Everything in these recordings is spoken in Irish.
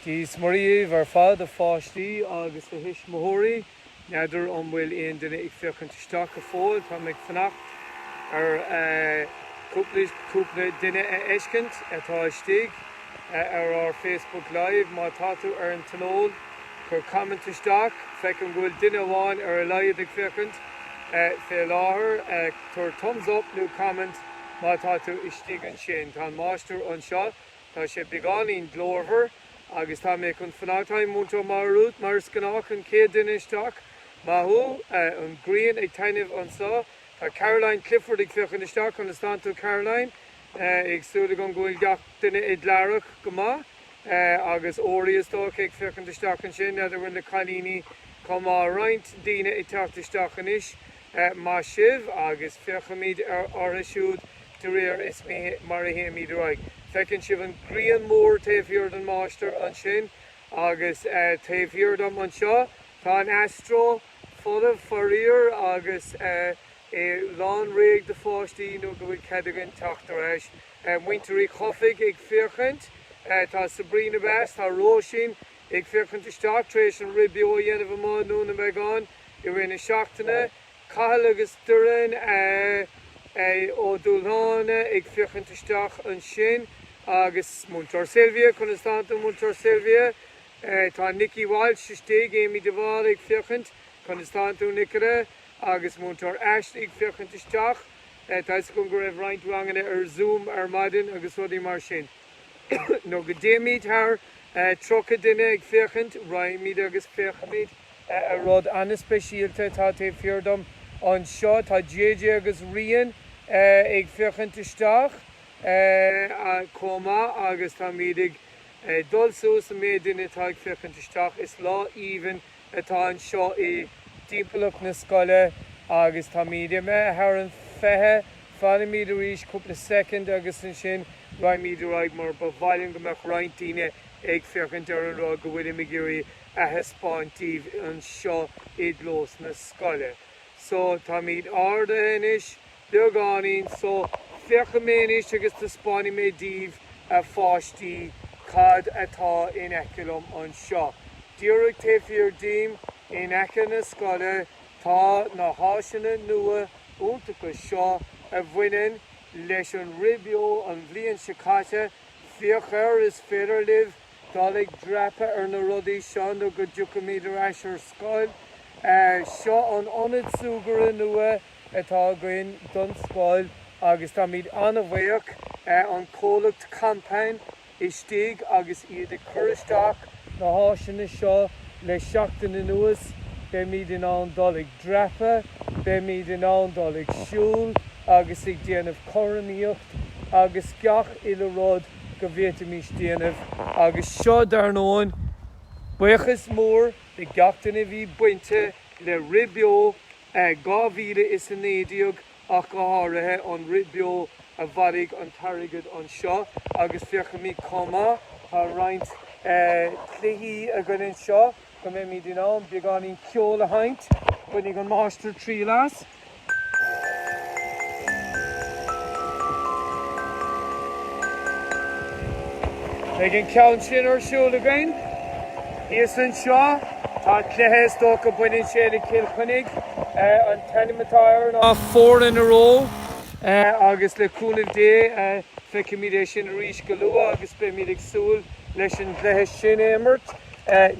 Dia is Muire daoibh ar fad a pháistí agus a thuismitheoirí. N'fheadar an bhfuil aon duine ag féachaint isteach go fóill. Táim ag fanacht ar chúpla duine a fheiscint atá istigh ar ár Facebook Live. Má tá tú ar an tionól, cuir comment isteach. Feicim go bhfuil duine amháin ar a laghad ag féachaint fé láthair. Cuir Thumbs Up nó Comment má tá tú istigh ansin. Tá an máistir anseo. Tá sé beagáinín glórmhar agus táim chun fanacht. Hi, Múinteoir Máire Rút, mar is gnách, an chéad duine isteach. Maith thú. An ghrian ag taitneamh anseo. Tá Caroline Clifford ag féachaint isteach. Conas atánn tú, Caroline? Ag súil agam go bhfuil gach duine i dlarrach go maith. Agus Ori, is dócha, ag féachaint isteach ansin. N'fheadar bhfuil na cailíní chomh maith. Roinnt daoine ag teacht isteach anois. maith sibh agus féachfaimid orthu siúd de réir is mar a théimid ar aghaidh. Feiceann sibh an grian mór taobh thiar den máistir ansin agus taobh thiar dom anseo tá an Astro folamh faraor agus é lán réidh do pháistí nó go bhfuil cead againn teacht ar ais. Muintir Uí Chofaigh ag féachaint, tá Sabrina Best, tá Róisín ag féachaint isteach tar éis an rith beo a dhéanamh amach i nDún na mBeagán. I rith na seachtaine, Cathal agus Doireann Ó Dúshláine ag féachaint isteach ansin agus Múinteoir Sylvia, conas atánn tú Múinteoir Sylvia? Tá Nicky Walsh istigh, Amy de Bhál ag féachaint, conas atánn tú Nicola? agus Múinteoir Ash ag féachaint isteach. Tá 'fhios agam go raibh roinnt ranganna ar Zoom ar maidin agus rudaí mar sin. nó go dtéimid thar tríocha duine ag féachaint, raghaimid agus féachfaimid ar rud ana-speisialta atá taobh thiar dom anseo. Tá JJ agus Rian ag féachaint isteach chomh maith agus táimid ag dul suas i méid duine atá ag féachaint isteach. Is lá aoibhinn. atá anseo i dtimpeallacht na scoile agus táimid imithe thar an 20, fanfaimid arís cúpla soicind agus ansin raghaimid ar aghaidh mar ba mhaith linn go mbeadh roinnt daoine ag féachaint ar an rud go bhfuilim ag iarraidh a thaispeáint daoibh anseo i gclós na scoile. So táimid ardaithe anois. Beagáinín so, féachfaidh mé anois agus taispeánfaidh mé daoibh, a pháistí, cad atá in aice liom anseo. Díreach taobh thiar díom, in aice na scoile, tá na háiseanna nua iontacha seo a bhaineann leis an Rith Beo an bhliain seo caite. Féach air, is féidir libh dul ag dreapadh ar na rudaí seo nó go dtiocfaimid ar ais ar scoil. Seo an Ionad Súgartha nua. atá againn don scoil agus táimid ana-bhuíoch den chomhlacht Kompan istigh agus iad ag cur isteach na háiseanna seo le seachtain anuas. Beimid in ann dul ag dreapadh, beimid in ann dul ag siúl agus ag déanamh cothromaíocht agus gach uile rud go bhféadfaimis déanamh agus seo dar ndóigh buíochas mór de gach duine a bhí bainte le Rith Beo 2019 ach go háirithe, an Rith Beo a bhailigh an t-airgead anseo agus féachfaimid chomh maith, tá roinnt cluichí againn anseo, go mbeimid in ann beagáinín ceoil a sheinnt. Bainfidh an máistir triail as. Beidh an ceann sin ar siúl againn thíos anseo. Tá cluiche, is dócha. Baineann sé le Cill Chainnigh, an t-ainm atá air ná Four in a Row, agus le cúnamh Dé feicfimid é sin arís go luath agus beimid ag súil leis an gcluiche sin a imirt.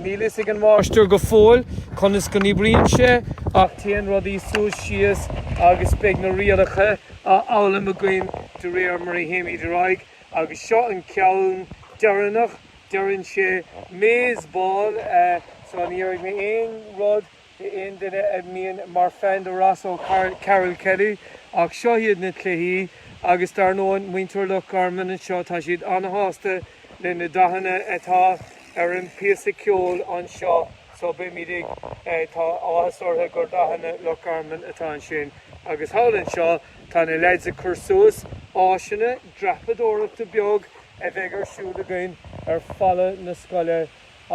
Níl fhios ag an máistir go fóill conas go n-oibríonn sé ach téann rudaí suas síos agus beidh na rialacha á fhoghlaim againn de réir mar a théimid ar aghaidh agus seo an ceann deireanach Deireann sé, maze ball, eh, so ní déarfaidh mé aon rud d'aon duine a mbíonn mar fan de Ross O'Carroll-Kelly ach seo iad na cluichí agus dar ndóigh muintir Loch Garman anseo tá siad ana-shásta le na dathanna atá ar an bpíosa ceoil anseo so beimid ag, eh, tá áthas orthu gur dathanna Loch Garman atá ansin agus thall anseo tá na lads ag cur suas áiseanna dreapadóireachta beag, a bheidh ar siúl againn ar fhalla na scoile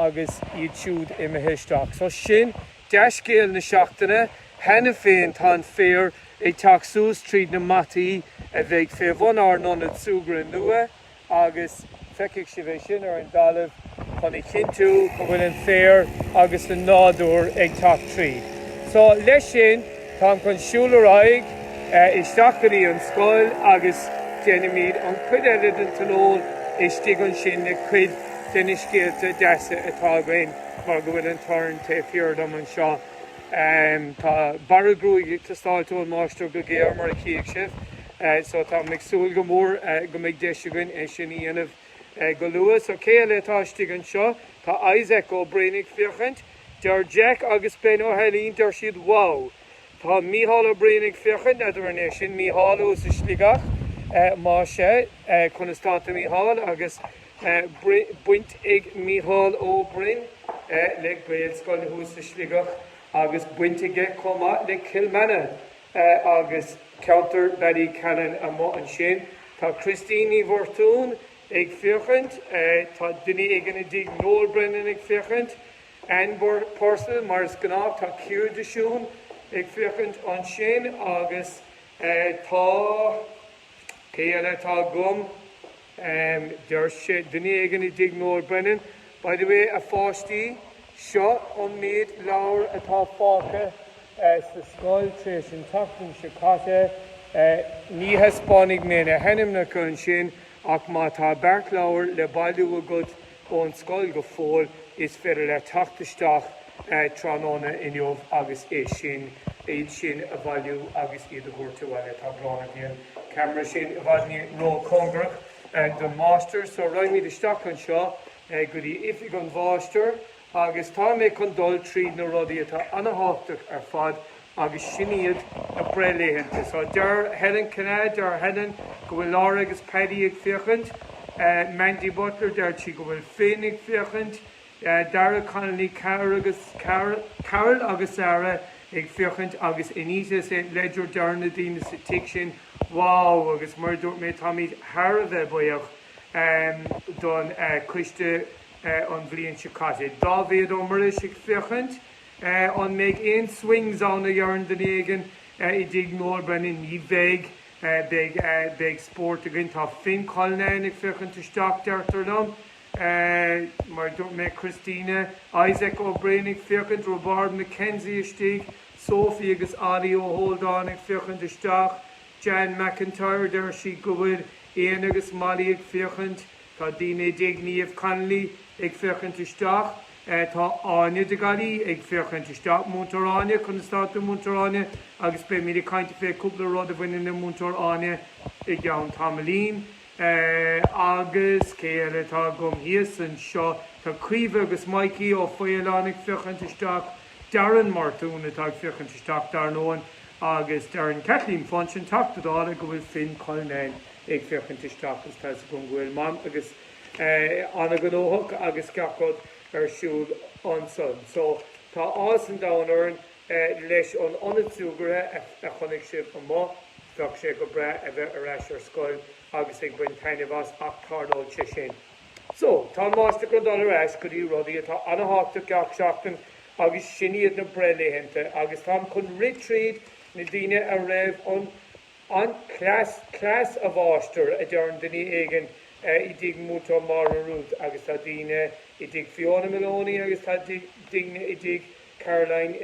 agus iad siúd imithe isteach. So sin dea-scéal na seachtaine. Cheana féin tá an féar ag teacht suas tríd na mataí a bheidh fé bhun ár n-ionad súgartha nua agus feicfidh sibh é sin ar an dtalamh. chun a chinntiú go bhfuil an féar agus an nádúr ag teacht tríd. So, leis sin, táim chun siúl ar aghaidh isteach go dtí an scoil agus déanfaimid an chuid eile den tionól istigh ansin le cuid de na scéalta deasa atá againn mar go bhfuil an torann taobh thiar dom anseo. Tá bearradh gruaige ag teastáilt ón máistir go géar mar a chífidh sibh so táim ag súil go mór go mbeidh deis againn é sin a dhéanamh. Go luath So cé eile atá istigh anseo tá Isaac Ó Broin ag féachaint. Deir Jack agus Ben Ó hAilín, deir siad, Wow! Tá Mícheál Ó Broin ag féachaint, n'fheadar an é sin Mícheál ó sa Sligeach? Más ea, conas tánn tú, a Mhichíl? Agus baint ag Mícheál Ó Broin le Gaelscoil thuas sa Sligeach agus baint aige chomh maith le Cill Mhíona. agus ceantar Bally Callan amuigh ansin. Tá Christine Ní Mhartúin ag féachaint, tá duine éigin i dTigh Noel Brennan ag féachaint, Anne Purcell mar is gnách, tá Ciara de Siún ag féachaint ansin agus tá, cé eile atá agam? Um deir sé duine éigin i dtigh Noel Brennan, By the way, a pháistí, seo an méid leabhar atá fágtha sa scoil tar éis an tseachtain seo caite. Ní thaispeánfaidh mé na hainmneacha ansin ach má tá beart leabhar le bailiú agat, ón scoil go fóill, is féidir leat teacht isteach tráthnóna inniu agus é sin, iad sin a bhailiú agus iad a thabhairt abhaile. Tá brón orm bhí an ceamara sin i bhfad ró-chóngarach don Mháistir, so raghaimid isteach anseo go dtí oifig an Mháistir agus tá mé chun dul tríd na rudaí atá ana-thábhachtach ar fad agus sin iad na breithlaethanta. So deir Helen Kinnane, deir Helen go bhfuil Laura agus Paddy ag féachaint, Mandy Butler deir sí go bhfuil Finn ag féachaint, Dara Connolly, Carol agus Sarah ag féachaint agus Anita St Ledger deir na daoine sa tigh sin wow agus mar a dúirt mé táimid thar a bheith buíoch don coiste an bhliain seo caite. Dáibhéad Ó Muiris ag féachaint. An mbeidh aon swings ann a dheireann duine éigin i dTigh Noel Brennan? Ní bheidh. Beidh spórt againn. Tá Finn Cullinane ag féachaint isteach, deirtear liom. Mar a dúirt mé, Christina, Isaac Ó Broin ag féachaint, Roibeárd McKenzie istigh, Sophie agus Ollie Ó hÓldáin ag féachaint isteach, Jean McIntyre, deir sí go bhfuil Ian agus Molly ag féachaint. Tá daoine i dTigh Niamh Connolly ag féachaint isteach. Tá Áine de Gallaí ag féachaint isteach, Múinteoir Áine, conas atá tú Múinteoir Áine agus beimid ag caint fé cúpla rud a bhaineann le Múinteoir Áine i gceann tamaillín. Agus cé eile atá agam thíos anseo? Tá Caoimhe agus Maidhcí Ó Faoláin ag féachaint isteach, Darren Martún atá ag féachaint isteach dar ndóin agus deireann Kathleen Funchion, Teachta Dála, go bhfuil Finn Cullinane ag féachaint isteach agus tá fhios agam go bhfuil Mam agus ana-ghnóthach agus gach rud ar siúl ansan so tá áthas an domhain orainn leis an ionad súgartha a chonaic sibh amuigh, bheadh sé go breá a bheith ar ais ar scoil agus ag baint taitneamh as ach tarlóidh sé sin. So, tá an Máistir chun dul ar ais go dtí rudaí atá ana-thábhachtach gach seachtain agus sin iad na breithlaethanta agus táim chun rith tríd na daoine a raibh an An cleas, cleas a mháistir, a deireann duine éigin i dtigh Múinteoir Máire Ruth agus tá daoine i dtigh Fiona Maloney agus tá daoine i dtigh Caroline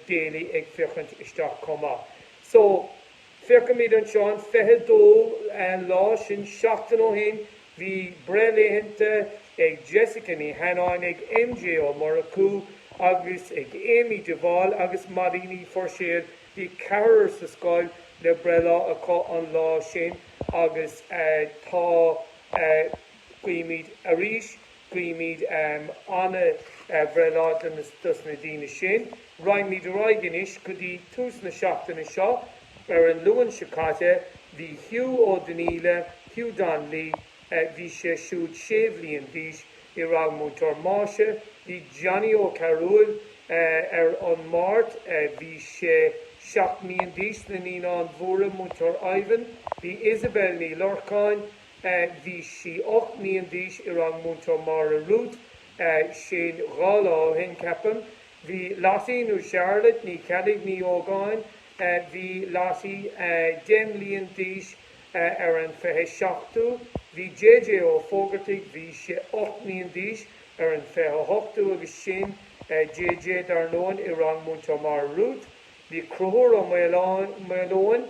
Daly ag féachaint isteach chomh maith. So, féachaimid anseo, an 22 lá, sin seachtain ó shin, bhí breith laethanta ag Jessica Ní hAnnáin, ag MJ Ó Murchú agus ag Amy de Bhál agus Madaí Ní Phuirséil Bhí ceathrar sa scoil le breithlá acu an lá sin agus tá, guímid arís, guímid an-bhreithlá dos na daoine sin. Raghaimid ar aghaidh anois go dtí tús na seachtaine seo. Ar an Luan seo caite bhí Hugh Ó Donnaíle, Hugh Donnelly, Bhí sé siúd sé mbliain d'aois i rang Múinteoir Máise. Bhí Johnny Ó Cearúill ar an Máirt. Bhí sé seacht mbliain d'aois. Na Naíonáin Mhóra, Múinteoir Ivan. Bhí Isabel Ní Lorcáin. Bhí sí ocht mbliain d'aois i rang Múinteoir Máire Ruth. Sin dhá lá ó shin, ceapaim. Bhí Lottie nó Charlotte Ní Cheallaigh Ní hÓgáin. Bhí Lottie deich mbliain d'aois. Ar an 27ú bhí J.J. Ó Fógartaigh, bhí sé ocht mbliain d'aois ar an 28ú agus sin J.J. dar ndóin, i rang Múinteoir Máire Ruth Bhí Conchúr Ó Maoileoin,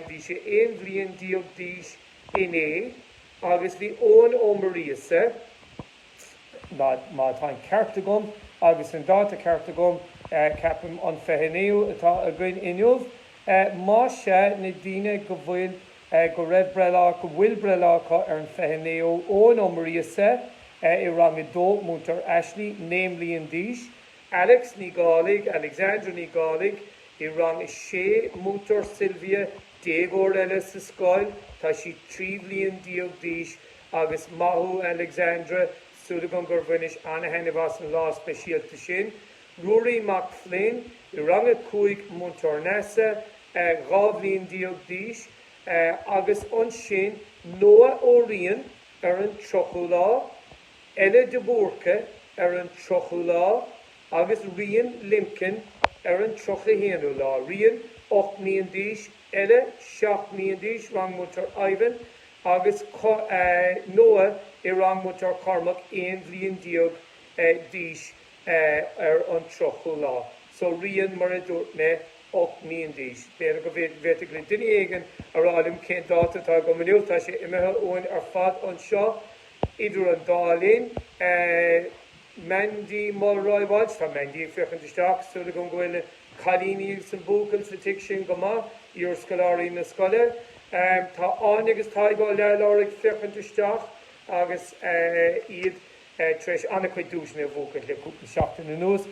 bhí sé aon bhliain déag d'aois inné agus bhí Eoin Ó Muiríosa, má tá an ceart agam agus an dáta ceart agam, ceapaim an 29ú atá againn inniu, más é, na daoine go bhfuil, go raibh breithlá, go bhfuil breithlá acu ar an 29ú, Eoin Ó Muiríosa, i rang a dó, Múinteoir Ashley, naoi mbliain d'aois, Alex Ní Dhálaigh, Alexandra Ní Dhálaigh, i rang a sé, Múinteoir Sylvia, déagóir eile sa scoil, tá sí trí bhliain déag d'aois, agus maith thú, Alexandra, súil agam gur bhainis an-thaitneamh as an lá speisialta sin. Ruairí Mac Floinn, i rang a cúig, Múinteoir Neasa, dhá bhliain déag d'aois, agus ansin Noah Ó Riain ar an tríochú lá, Ella de Búrca ar an tríochú lá, agus Rian Limkin ar an tríocha haonú lá, Rian ocht mbliain d'aois. Ella seacht mbliain d'aois, rang Múinteoir Ivan, agus Noah i rang Múinteoir Cormac aon bhliain déag d'aois ar an tríochú lá. So Rian, mar a dúirt mé, ocht mbliain d'aois. B'fhéidir go bhféadfadh le duine éigin a rá liom cén dáta atá agam inniu, tá sé imithe uainn ar fad anseo idir an dá linn. Mandy Mulroy Walsh Tá Mandy ag féachaint isteach, súil agam go bhfuil cailíní agus an buachaill sa tigh sin go maith, iarscoláirí na scoile. Tá Áine agus Tadhg Ó Leathlobhair ag féachaint isteach agus iad tar éis an-chuid duaiseanna a bhuachaint le cúpla seachtain anuas.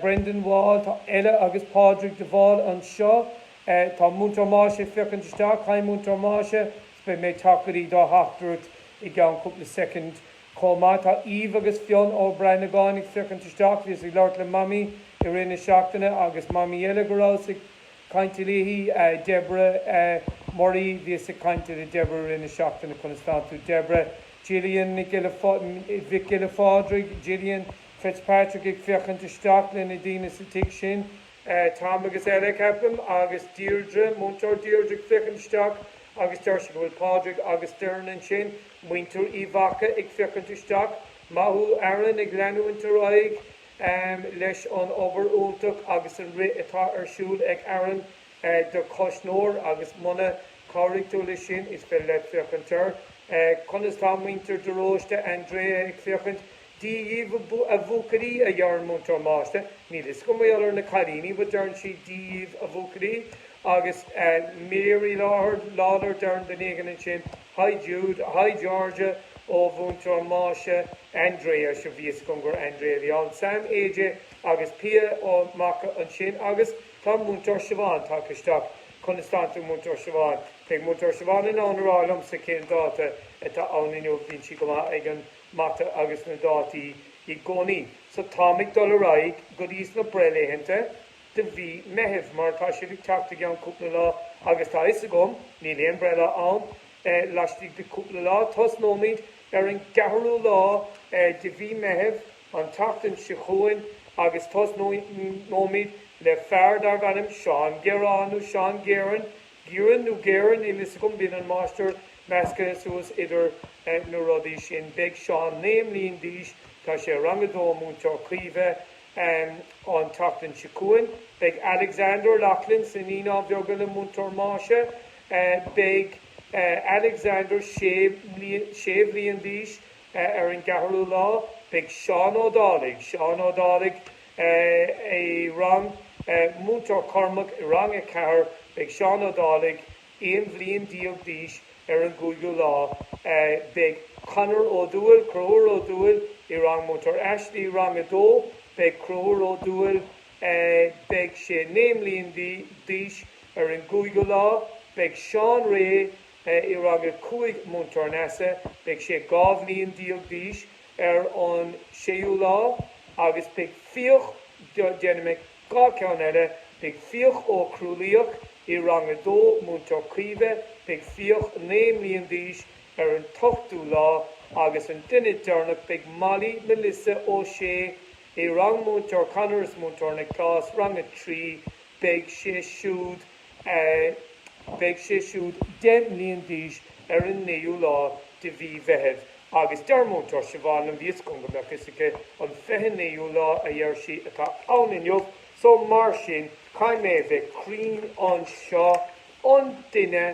Brendan Wall Tá Ella agus Pádraig de Bhál anseo. Tá Múinteoir Máise ag féachaint isteach, Haigh Múinteoir Máise, is beidh mé ag teacht go dtí do theachtaireacht i gceann cúpla soicind. Chomh maith, tá Aoibh agus Fionn Ó Branagáin ag féachaint isteach, bhíos ag labhairt le Mamaí i rith na seachtaine agus Mamaí eile go rabhas ag caint léi, Deborah Murray, bhíos ag caint le Deborah i rith na seachtaine, conas tánn tú Deborah? Gillian Mhic Giolla Phádraig, Gillian Fitzpatrick ag féachaint isteach le na daoine sa tigh sin, Tom agus Ella, ceapaim, agus Deirdre, Múinteoir Deirdre ag féachaint isteach agus deir sí go bhfuil Pádraig agus Doireann ansin, muintir Uí Mhaca ag féachaint isteach, Maith thú Aaron ag leanúint ar aghaidh leis an obair iontach agus an rith atá ar siúl ag Aaron do Chois Nore agus muna cabhraigh tú leis sin is féidir leat féachaint air, conas tá muintir de Róiste, Andrea ag féachaint, Dia dhíbh a bhuachaillí a deireann Múinteoir Máise, níl fhios agam mar gheall ar na cailíní but deireann sí Dia dhíbh a bhuachaillí agus Mary Lawlor Doireann Donegan ansin. Hi Jude, hi Georgia ó Mhúinteoir Máise, Andrea, sea bhí fhios agam gur Andrea a bhí ann, Sam, AJ agus Pia Ó Maca ansin agus tá Múinteoir Siobhán tagtha isteach conas tánn tú Múinteoir Siobhán, beidh Múinteoir Siobhán in ann a rá liomsa cén dáta atá ann inniu, bíonn sí go maith ag an Mata agus na dátaí i gcónaí. So táim ag dul ar aghaidh go dtí sna breithlaethanta de mhí Meithimh, mar tá sé ag teacht i gceann cúpla lá agus tá 'fhios agam, níl aon breithlá ann, laistigh de chúpla lá, tosnóimid ar an gceathrú lá de mhí Meithimh an tseachtain seo chugainn agus tosnóimid le fear darbh ainm Seán Gearán nó Seán Géaran, Gíoran nó Géaran, níl 'fhios agam, bíonn an Máistir measctha suas idir na rudaí sin. Beidh Seán naoi mbliain d'aois, tá sé i rang a dó, Múinteoir Caoimhe, Um an tseachtain seo chugainn beidh Alexander O'Loughlin sna Naíonáin Bheaga le Múinteoir Máise. Beidh Alexander sé bhliain d'aois ar an gceathrú lá. Beidh Seán Ó Dálaigh, Seán Ó Dálaigh i rang, Múinteoir Cormac i rang a ceathair, beidh Seán Ó Dálaigh Aon bhliain déag d'aois ar an gcúigiú lá beidh Conor Ó Dúill, Conchúr Ó Dúill, i rang Múinteoir Ashley, rang a dó, beidh Conchúr Ó Dúill beidh sé naoi mbliana d'aois ar an gcúigiú lá, beidh Seán Ré i rang a cúig Múinteoir Neasa beidh sé dhá bhliain déag d'aois ar an séú lá agus beidh Fiach, déanfaidh mé. Dhá cheann eile, Beidh Fiach Ó Crualaoich i rang a dó, Múinteoir Caoimhe, beidh Fiach naoi mbliana d'aois ar an t-ochtú lá, agus an duine deireanach, beidh Molly Melissa Ó Sé i rang Múinteoir Connors, Múinteoir Nioclás, rang a trí, beidh sé siúd. beidh sé siúd deich mbliana d'aois ar an naoú lá de mhí Mheithimh, agus deir Múinteoir Siobhán liom bhíos chun go mbeadh fhios aici an fiche naoú lá, a dheir sí, atá ann inniu, so mar sin caithfidh mé a bheith cruinn anseo. An duine,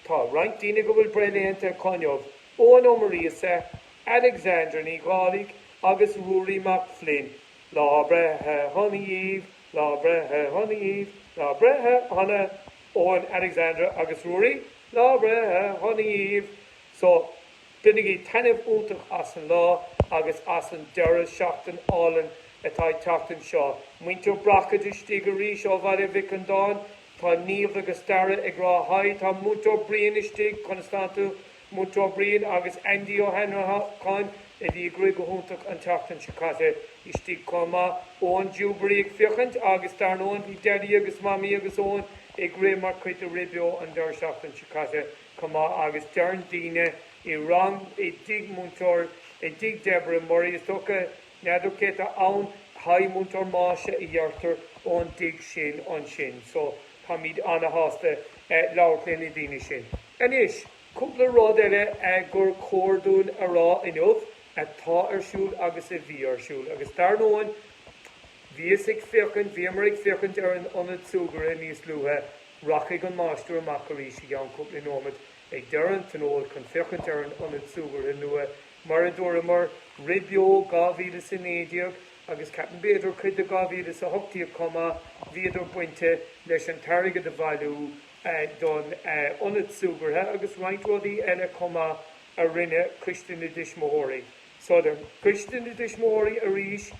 tá roinnt daoine go bhfuil breithlaethanta acu inniu, Eoghan Ó Muiríosa, Alexandra Ní Dhálaigh agus Ruairí Mac Floinn, lá breithe shona dhíbh, Lá Breithe shona dhíbh, Lá Breithe shona, Eoin, Alexandra agus Ruairí, Lá Breithe shona dhíbh. So, bainigí taitneamh iontach as an lá agus as an deireadh seachtain álainn atá ag teacht anseo. Muintir Brockage istigh arís ó Bhaile Mhic Andáin. Tá Niamh agus Darragh ag rá hi. Tá Múinteoir Brian istigh, conas tánn tú? Múinteoir Brian agus Aindí Ó hAnnracháin a bhí ag rith go hiontach an tseachtain seo caite istigh chomh maith, Eoin Dewberry ag féachaint agus dar ndóigh bhí Daidí agus Mamaí agus Eoin ag rith mar chuid de Rith Beo an deireadh seachtaine seo caite chomh maith agus deireann daoine i rang i dtigh Múinteoir i dtigh Deborah Murray is dócha n'fheadar cé atá ann? Haigh Múinteoir Máise a dheirtear ón dtigh sin ansin so táimid ana-shásta labhairt le na daoine sin. Anois, cúpla rud eile gur chóir dúinn a rá inniu, atá ar siúl agus a bhí ar siúl. Agus dar ndóigh, bhíos ag féachaint, bhíomar ag féachaint ar an ionad súgartha níos luaithe, rachaidh an máistir amach arís i gceann cúpla nóimeat ag deireadh an tionóil chun féachaint ar an ionad súgartha nua, mar a dúramar, rith beo 2019 agus ceapaim b'fhéidir cuid de 2018 chomh maith, bhíodar bainteach leis an t-airgead a bhailiú, don ionad súgartha agus roinnt rudaí eile chomh maith a rinne Coiste na dTuismitheoirí. So do Choiste na dTuismitheoirí arís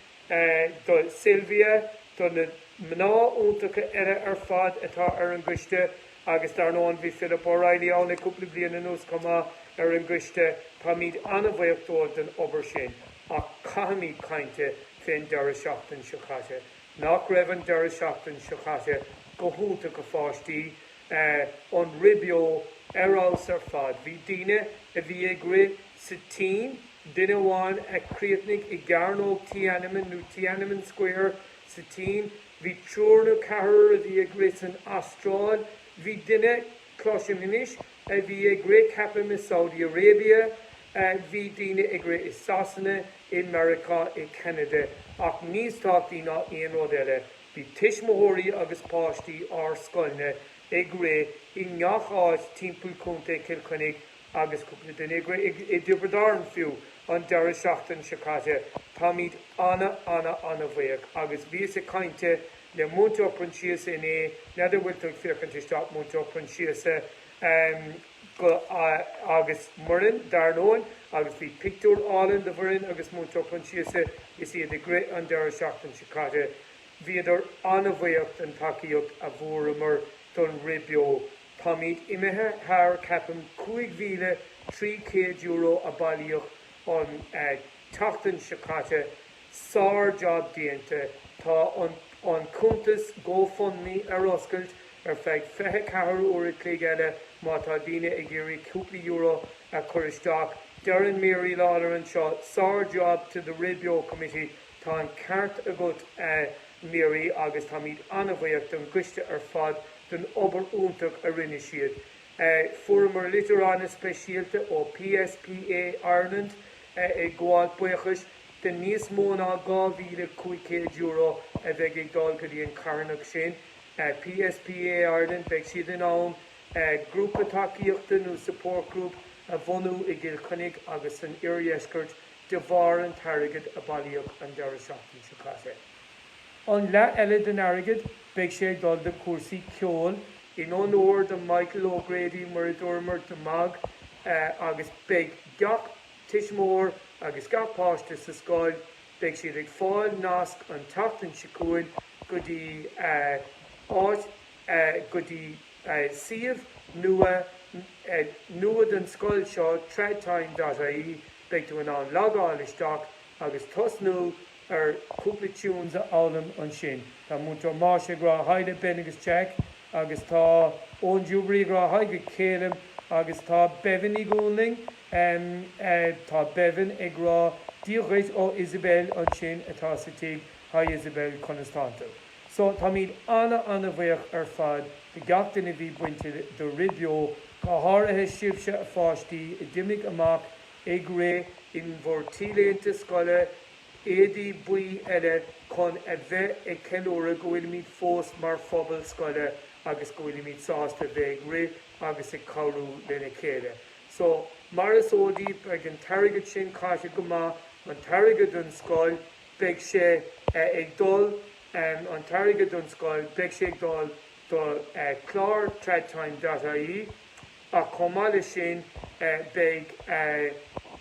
do Sylvia, do na mná iontacha eile ar fad atá ar an gCoiste agus dar ndóigh bhí Philip O'Reilly ann le cúpla bliain anuas chomh maith ar an gCoiste. Táimid ana-bhaoch dóibh den obair sin ach caithfimid caint fén deireadh seachtain seo caite. Nach raibh an deireadh seachtain seo caite go hiontach, a pháistí? An Rith Beo ar fheabhas ar fad. Bhí daoine a bhí ag rith sa tSín, duine amháin a chríochnaigh i gCearnóg Tiananmen nó Tiananmen Square sa tSín. Bhí triúr nó ceathrar a bhí ag rith san Astráil. Bhí duine, cloisim inniu, a bhí ag rith, ceapaim, i Saudi Arabia, bhí daoine ag rith i Sasana, i Meiriceá, i gCeanada, ach níos tábhachtaí ná aon rud eile, bhí tuismitheoirí agus páistí ár scoilne ag rith i ngach áit timpeall Contae Chill Chainnigh agus cúpla duine ag rith i dTiobraid Árann fiú, an deireadh seachtain seo caite. Táimid ana, ana, ana-bhuíoch agus bhíos ag caint le Múinteoir Proinsiasa inné, n'fheadar an bhfuil tú ag féachaint isteach, Múinteoir Proinsiasa, go, agus Muireann, dar ndóin, agus bhí pictiúr álainn de Mhuireann agus Múinteoir Proinsiasa is iad ag rith an deireadh seachtain seo caite. Bhíodar an-bhuíoch den tacaíocht a fuaireamar don Rith Beo. Táimid imithe thar, ceapaim, €5,300 a bailíodh an tseachtain seo caite. Sár-jab déanta. Tá an an cuntas GoFundMe ar oscailt ar feadh fiche ceathair uair a chloig eile má tá daoine ag iarraidh cúpla euro a chur isteach. Deireann Mary Lawlor anseo, Sár-jab to the Rith Beo Committee. Tá an ceart agat Mary agus táimid an-bhuíoch don choiste ar fad don obair iontach a rinne siad. Fuaireamar litir ana-speisialta ó PSPA Ireland ag gabháil buíochais de níos mó ná €2,500 a bheidh ag dul go dtí an carthanacht sin, PSPA Ireland, beidh siad in ann grúpa tacaíochta nó support group a bhunú i gCill Chainnigh agus san oirdheisceart de bharr an t-airgead a bailíodh an deireadh seachtain seo caite. An leath eile den airgead, beidh sé ag dul do chúrsaí ceoil, in onóir do Michael O'Grady, mar a dúramar, do Mag agus beidh gach tuismitheoir agus gach páiste sa scoil, beidh siad ag fáil nasc an tseachtain seo chugainn go dtí áit, go dtí suíomh nua, nua don scoil seo, tradtime.ie. Beidh tú in ann logáil isteach agus tosnú ar chúpla tunes a fhoghlaim ansin. Tá Múinteoir Máise ag rá haigh do Ben agus Jack agus tá Eoin Jubilee ag rá haigh go Calum agus tá Bevin Ní Dhúnlaing, Mh, tá Bevin ag rá, Dia dhuit ó Isabel ansin atá sa tigh, Hi Isabel, conas tántu? So, táimid ana-ana-bhuíoch ar fad de gach duine a bhí bainte le Rith Beo, go háirithe sibhse a pháistí a d'imigh amach ag rith, in bhur t-léinte scoile, éadaí buí eile, chun a bheith ag ceiliúradh go bhfuilimid fós mar phobal scoile agus go bhfuilimid sásta bheith ag rith agus ag cabhrú lena chéile. So, mar is eol daoibh, beidh an t-airgead sin caite go maith, an t-airgead don scoil, beidh sé ag dul, an t-airgead don scoil, beidh sé ag dul do chlár Trad Time dot ie ach chomh maith leis sin, beidh,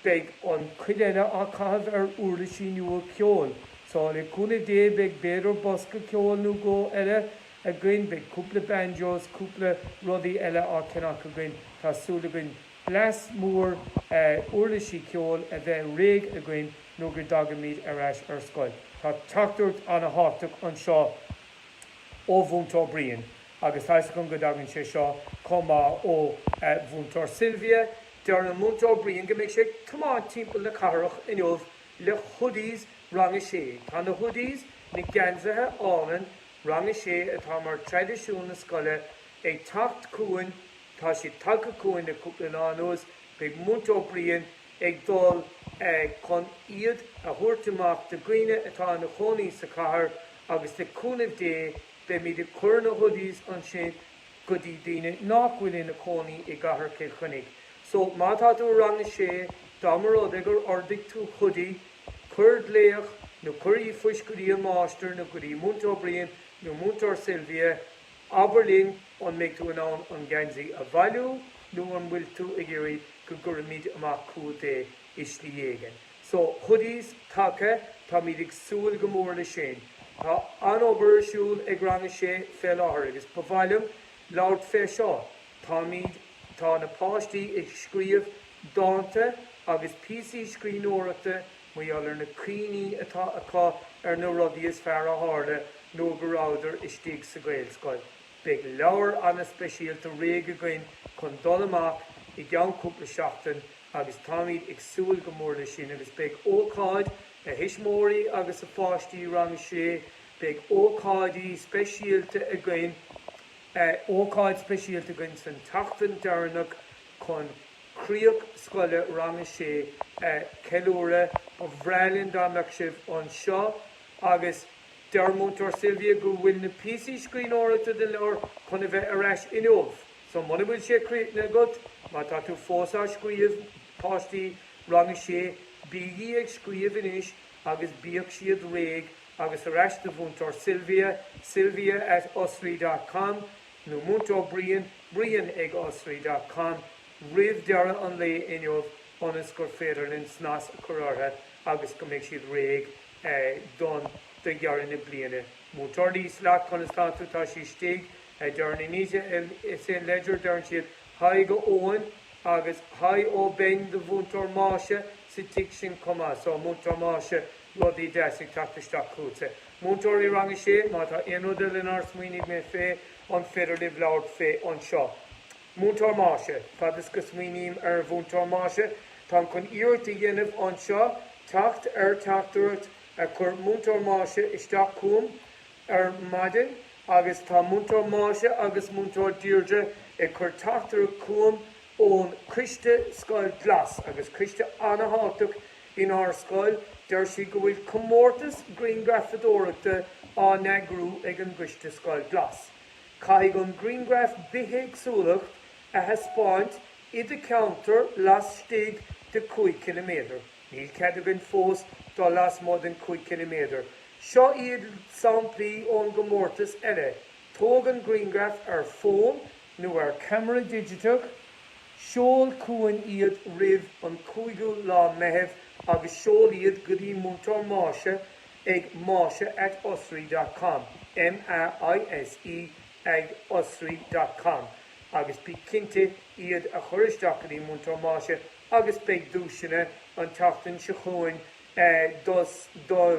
beidh, an chuid eile á chaitheamh ar uirlisí nua ceoil, so le cúnamh Dé, beidh b'fhéidir bosca ceoil nó dhó eile againn, beidh cúpla banjos, cúpla rudaí eile á ceannach againn, tá súil againn blast mór uirlisí ceoil a bheith réidh againn nuair a thagaimid ar ais ar scoil. Tá teachtaireacht an-thábhachtach anseo ó Mhúinteoir Brian agus tá 'fhios agam go dtagann sé seo chomh maith ó Mhúinteoir Sylvia, deir an Múinteoir Brian go mbeidh sé ag tiomáint timpeall na cathrach inniu le hoodies Rang 6. Tá na hoodies, na geansaithe álainn Rang a Sé atá mar traidisiún na scoile ag teacht chugainn, tá siad tagtha chugainn le cúpla lá anuas, beidh Múinteoir Brian ag dul chun iad a thabhairt amach do dhaoine atá ina chónaí sa chathair agus le cúnamh Dé beimid ag cur na hoodies ansin go dtí daoine nach bhfuil ina chónaí i gcathair Chill Chainnigh. So má tá tú i rang a sé, dá mba rud é gur ordaigh tú hoodie, Cuir glaoch nó cuir ríomhphost go dtí an máistir nó go dtí Múinteoir Brian nó Múinteoir Sylvia, Abair linn an mbeidh tú in ann an geansaí a bhailiú nó an bhfuil tú ag iarraidh go gcuirfimid amach chughat é i slí éigin? So, hoodies tagtha, táimid ag súil go mór leis sin. Tá an-obair ar siúl ag Rang a Sé fé láthair agus ba mhaith liom labhairt fé seo, Táimid, tá na páistí ag scríobh dánta agus píosaí scríbhneoireachta mar gheall ar na cuimhní atá acu ar na rudaí is fearr a tharla nuair go rabhadar istigh sa Ghaelscoil. Beidh leabhar ana-speisialta réidh againn chun dul amach i gceann cúpla seachtain agus táimid ag súil go mór leis sin agus beidh ócáid, a thuismitheoirí agus a pháistí Rang 6, beidh ócáidí speisialta againn. Beidh ócáid speisialta againn san tseachtain deireanach chun críoch scoile Rang 6 a cheiliúradh. Ba bhreá linn dá mbeadh sibh anseo agus deir Múinteoir Sylvia go bhfuil na píosaí scríbhneoireachta den leabhar chun a bheith ar ais inniu. So muna bhfuil sé críochnaithe agat, má tá tú fós á scríobh, páistí Rang 6, bígí ag scríobh anois agus bíodh siad réidh agus ar ais do Mhúinteoir Sylvia, sylvia at osraí dot com, nó Múinteoir Brian, brian ag osraí dot com, roimh dheireadh an lae inniu ionas gur féidir linn snas a chur orthu agus go mbeidh siad réidh don do dheireadh na bliana. Múinteoir Lís, leat, conas tánn tú? Tá sí istigh, a deireann Inise in St Ledger, deireann siad haigh go Eoin agus haigh ó Ben do Mhúinteoir Máise sa tigh sin chomh maith. So, Múinteoir Máise, Rudaí deasa ag teacht isteach chugat, a mhúinteoirí rang a sé, má tá aon rud eile nár smaoinigh mé fé, an féidir libh labhairt fé anseo? Múinteoir Máise, Fad is go smaoiním ar Mhúinteoir Máise, táim chun iarracht a dhéanamh anseo teacht ar teachtaireacht a chuir Múinteoir Máise isteach chugam ar maidin agus tá Múinteoir Máise agus Múinteoir Deirdre ag cur teachtaireacht chugam ón Coiste Scoil Glas agus coiste ana-thábhachtach Inár scoil, deir sí go bhfuil comórtas grianghrafadóireachta á eagrú ag an gcoiste Scoil Glas. Caithfidh an grianghraf bithéagsúlacht a thaispeáint i do cheantar lastigh de 5 km. Níl cead againn fós dul lasmuigh den 5 km. Seo iad samplaí ón gcomórtas eile, Tóg an grianghraf ar fón, nó ar camera digiteach, seol chugainn iad roimh an 5ú lá Meitheamh agus seol iad go dtí Múinteoir Máise ag maise at osraí dot com, M-A-I-S-E ag osraí dot com, agus bí cinnte iad a chur isteach go dtí Múinteoir Máise agus beidh duaiseanna an tseachtain seo chugainn dos do